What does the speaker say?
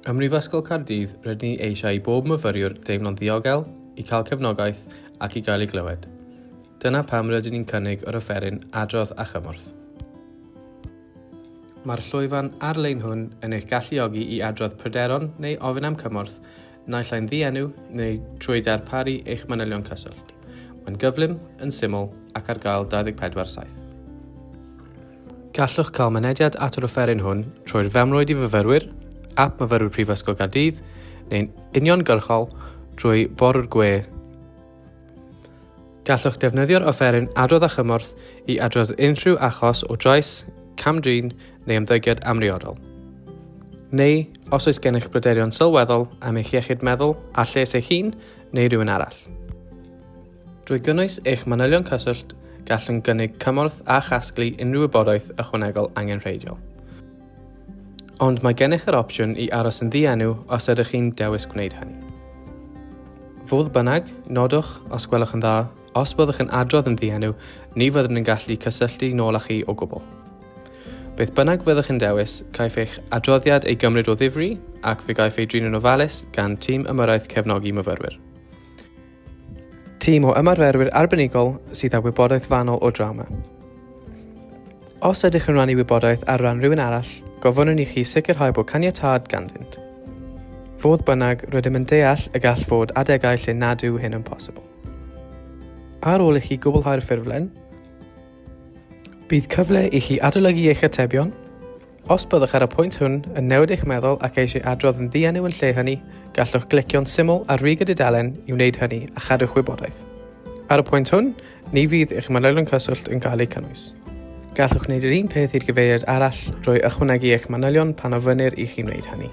Ym Mhrifysgol Caerdydd rydyn ni eisiau i bob myfyriwr deimlo'n ddiogel, i cael cefnogaeth ac i gael ei glywed. Dyna pam rydyn ni'n cynnig yr offeryn Adrodd â Chymorth. Mae'r llwyfan ar-lein hwn yn eich galluogi i adrodd pryderon neu ofyn am cymorth naill ai'n ddienw neu trwy darparu eich manylion cyswllt. Mae'n gyflym, yn syml ac ar gael 24-7. Gallwch cael mynediad at yr offeryn hwn trwy'r femrwyd i fyfyrwyr, ap myfyrwyr Prifysgol Gaerdydd, neu'n uniongyrchol drwy borw'r gwe Gallwch defnyddio'r offeryn adrodd a chymorth i adrodd unrhyw achos o drais, cam-drin neu ymddygiad amhriodol. Neu, os oes gennych bryderon sylweddol am eich iechyd meddwl a lles eich hun neu rhywun arall. Drwy gynnwys eich manylion cyswllt, gallwn gynnig cymorth a chasglu unrhyw wybodaeth ychwanegol angenrheidiol. Ond mae gennych yr opsiwn i aros yn ddienw os ydych chi'n dewis gwneud hynny. Fodd bynnag, nodwch, os gwelwch yn dda, os byddwch yn adrodd yn ddienw, ni fyddwn yn gallu cysylltu nôl â chi o gwbl. Beth bynnag fyddwch yn dewis, caiff eich adroddiad ei gymryd o ddifri ac fe gaiff ei drin yn ofalus gan tîm ymyrraeth cefnogi myfyrwyr. Tîm o ymarferwyr arbenigol sydd â wybodaeth fanwl o drawma. Os ydych yn rannu wybodaeth ar ran rhywun arall, gofynnwn i chi sicrhau bod caniatâd ganddynt. Fodd bynnag, rydym yn deall y gall fod adegau lle nad yw hyn yn posibl. Ar ôl i chi gwblhau'r ffurflen, bydd cyfle i chi adolygu eich atebion Os byddwch ar y pwynt hwn yn newid eich meddwl ac eisiau adrodd yn ddienw yn lle hynny, gallwch glicio'n syml ar rig y dudalen i wneud hynny a chadw'ch wybodaeth. Ar y pwynt hwn, ni fydd eich manylion cyswllt yn cael eu cynnwys. Gallwch wneud yr un peth i'r gyfeiriad arall drwy ychwanegu eich manylion pan ofynnir i chi wneud hynny.